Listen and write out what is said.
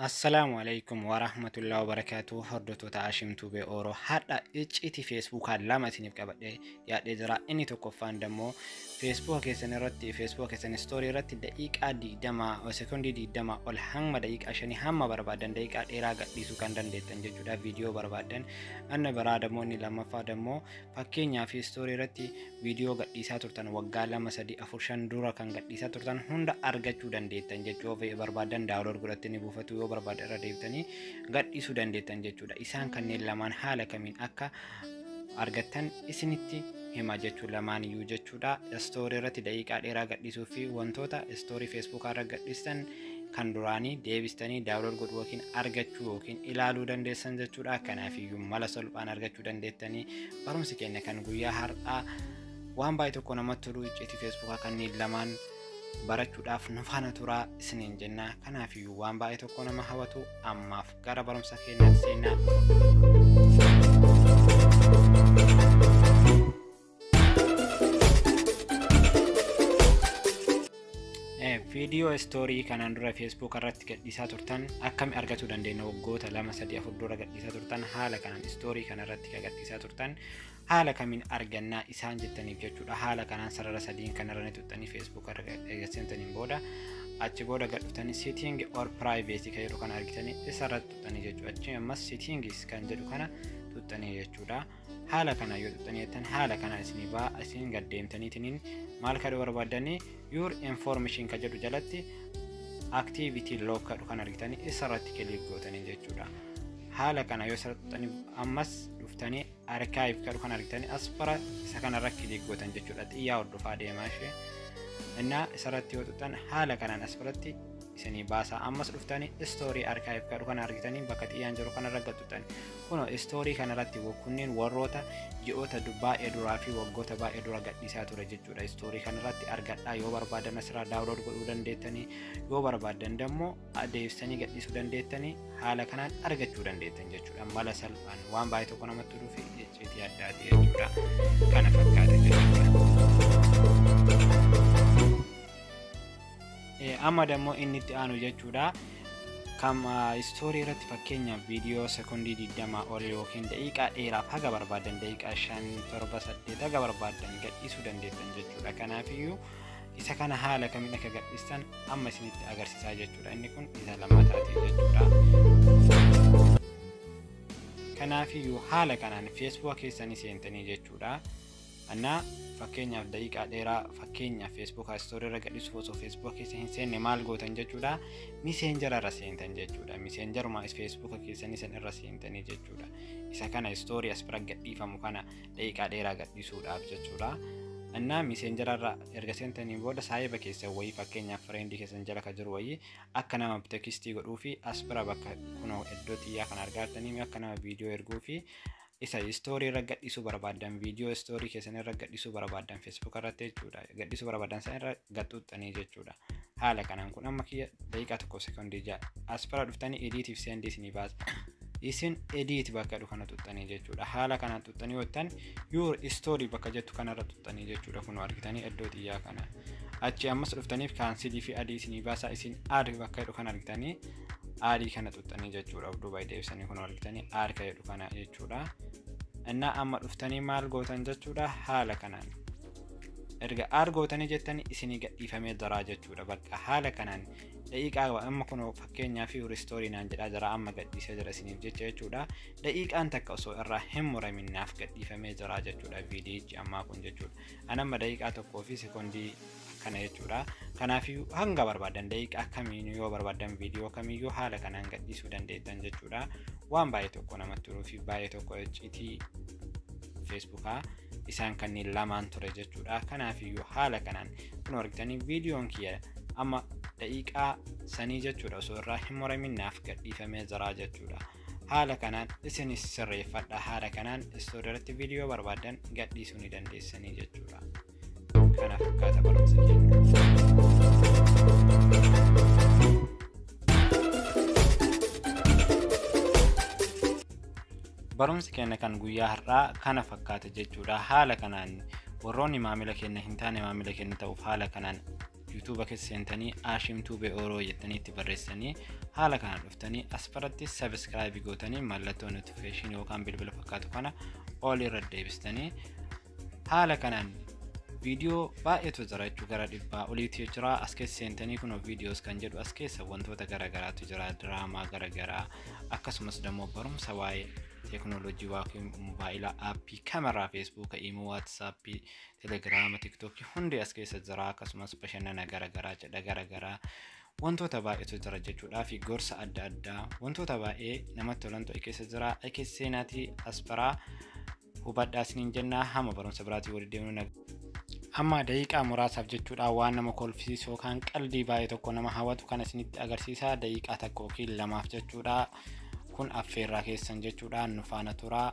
Assalaamu alaikum warahmatullahi wabarakatuh hordoftoota Hashim Tube Oro hadha icciitii feesbuukaa lama isiniif qabadhee yaadhee jira inni tokkoffaan dammoo feesbuuka keessan irratti feesbuuka keessan istoorii irratti daqiiqaa digdama sekondii digdama ol hanga daqiiqaa shanii hamma barbaadan daqiiqaa dheeraa gadhiisuu kan dandeettan jechuudha viidiyoo barbaadan anna biraa dammoo inni lammaffaa dammoo Fakkeenyaa fi istoorii irratti viidiyoo gadhiisaa turtan waggaa lama sadii afur shan dura kan gadhiisaa turtan hunda argachuu dandeettan jechuu of barbaadan daawulood godhattanii buufatu yoo barbaada irra deebitanii gadhiisuu dandeettan jechuudha. Isaan kanneen lamaan haala kamiin akka argattan isinitti hima jechuu lamaan iyyuu jechuudha. Istoorii irratti daqiiqaa dheeraa gadhiisuu fi wantoota istoorii feesbuukaa irra gadhiistan kan duraanii deebistanii daawunlood godhuu yookiin argachuu yookiin ilaaluu dandeessan jechuudha. Kanaafiyyuu mala salphaan argachuu dandeettanii barumsi keenya kan guyyaa har'aa waan baay'ee tokko namatti tolu icciitii feesbuukaa kanneen lamaan barachuudhaaf nu faana turaa isiniin jenna. Kanaafiyyuu waan baay'ee tokko nama hawwatu ammaaf gara barumsa keenyaatti seenna. viidiyoo istoorii kanaan dura feesbuuk irratti gadhiisaa turtan akkami argachuu dandeenya waggoota lama sadii afur dura gadhiisaa turtan haala kanaan istoorii kana irratti kan gadhiisaa turtan haala kamiin argannaa isaan jettaniif jechuudha haala kanaan sarara sadiin kan irra tuttanii feesbuuk irra eegaseentaniin booda achi booda gadhuftanii siitiingi or piraayiveetii kan jedhu kana argitanii isa irratti tuttanii jechuudha achi ammas siitiingis kan jedhu kana tuttanii jechuudha. haala kana yoo xuxxanii jettan haala kana isin baa isin gad deemtaniitiniin maal kadhu barbaadanii your information ka jedhu jalatti activity log kadhu kan argitanii isa irratti kiliik gootanii jechuudha haala kana yoo isa xuxxanii ammas dhuftanii archive kadhu kan argitanii as bara isa kana irratti kiliik gootan jechuudha xiyyaa hordofaa deemaa ishee innaa isa irratti yoo xuxxan haala kanaan as biratti isinii baasaa ammas dhuftanii istoorii archive kadhu kan argitanii bakka xiyyaan jiru kanarra gad xuxxanii Kuno istoorii kanarratti kunniin warroota ji'oota baay'ee duraa fi waggoota baay'ee dura gadhiisaa ture jechuudha. Istoorii kanarratti argadhaa yoo barbaadan asirraa daawulood godhuu dandeettanii yoo barbaadan dammoo adeemsanii gadhiisuu dandeettanii haala kanaan argachuu dandeettan jechuudha. Mala salphaan waan baay'ee tokko namatti dhufi icciitii addaati jechuudha. Kana fakkaata jechuudha. Amma dammoo inni itti aanu jechuudha. Kam istoorii irratti fakkeenyaaf viidiyoo sekondii 20 ol yookiin daqiiqaa dheeraaf haga barbaadan daqiiqaa 5 7 8 haga barbaadan gadhiisuu dandeettan jechuudha. Kanaafiyyuu isa kana haala kamiin akka gadhiistan amma isinitti agarsiisaa jechuudha. Inni kun isa lammataati jechuudha. Kanaafiyyuu haala kanaan feesbuuka keessanii seentanii jechuudha. Anna fakkeenyaaf daqiiqaa dheeraa fakkeenya feesbuukaa istoorii irra gadhiisuuf osoo feesbuuka keessa hin seenne maal gootan jechuudha miseenjara irra seentan jechuudha miseenjaruma feesbuuka keessanii san irra seentanii jechuudha isa kana istoorii as bira gadhiifamu kana daqiiqaa dheeraa gadhiisuudhaaf jechuudha annaa miseenjara irra erga seentanii booda saahiba keessan wayii fakkeenyaaf fireendii keessan jala ka jiru wayii akka nama tekstii godhuu fi as bira bakka kunoo iddoo xiyyaa kan argaartanii akka nama viidiyoo erguu fi isa story irra gadhiisuu barbaaddan video story keessan irra gadhiisuu barbaaddan facebook irratti jechuudha gadhiisuu barbaaddan san irra gaxuuxxanii jechuudha haala kanaan kun amma kiyya daqiiqaa tokko sekondii ja'a as bira dhuftanii ediitiif seendii isinii baasa isin ediit bakka jedhu kana tuxxanii jechuudha haala kanaan tuxxanii yootan yuur istoorii bakka jettu kanarra tuxxanii jechuudha kun argitanii iddoo xiyyaa kana achi ammas dhuftaniif kaansilii fi adii isinii baasaa isin aad bakka jedhu kan argitanii aadii kana xuxxanii jechuudha of duuba deebisanii kun argitanii aad ka jedhu kana jechuudha innaa amma dhuftanii maal gootan jechuudha haala kanaan erga aad gootanii jettanii isinii gadhiifamee jiraa jechuudha bakka haala kanaan daqiiqaa amma kun fakkeenyaa fi ristoorii naan jedhaa jira amma gadhiisee jira isiniif jecha jechuudha daqiiqaan takka osoo irraa hin muraminnaaf gadhiifamee jira jechuudha viidiyichi ammaa kun jechuudha an amma daqiiqaa tokkoo fi sekoondii akkana jechuudha kanaafiyyuu hanga barbaadan daqiiqa akkamiin yoo barbaadan viidiyoo kamiyyuu haala kanaan gadhiisuu dandeettan jechuudha waan baay'ee tokko namatti turuu fi baay'ee tokko iccitii feesbuukaa isaan kanneen lamaan ture jechuudha kanaafiyyuu haala kanaan kun argitanii viidiyoon kiyya amma daqiiqaa sanii jechuudha osoo irraa hin muramin naaf gadhiifamee jiraa jechuudha haala kanaan isinis sirreeffadha haala kanaan istoodii irratti viidiyoo barbaadan gadhiisuu ni dandeessanii jechuudha. Kana fakkaata barumsa keenya. Barumsi keenya kan guyyaa har'aa kana fakkaata jechuudha. Haala kanaan warroonni maamila keenya hin taane maamila keenya ta'uuf haala kanaan yuutuuba keessa seentanii aashiim tuubee ooroo jettanii itti barreessanii haala kanaan dhuftanii asfaratti sabiskiraayibii gootanii mallattoo notifikeeshinii yookaan bilbila fakkaatu kana ol irra deebistanii haala kanaan viidiyoo baay'eetu jira jechuu gara dhibbaa oliitu jira as keessa seentanii kun viidiyoos kan jedhu as keessa wantoota garaagaraatu jira diraamaa garaagaraa akkasumas immoo barumsa waa'ee teeknooloojii waa'ee mobaayilaa aappii kameraa feesbuuka imoo waatsaappii telegiraama tiktookii hundi as keessa jira akkasumas bashannana garaagaraa cidha garaagaraa wantoota baay'eetu jira jechuudhaa fi gorsa adda addaa wantoota baay'ee namatti tolantu keessa jira keessa seenaatii asparaa hubadhaa isiniin jennaa hamma barumsa biraatii walitti deemnu naga. Amma daqiiqaa muraasaaf jechuudha waan nama kolfisiisu yookaan qaldii baay'ee tokko nama hawwatu kan isinitti agarsiisaa daqiiqaa takka yookiin lamaaf jechuudha. Kun affeerraa keessan jechuudha nu faana turaa.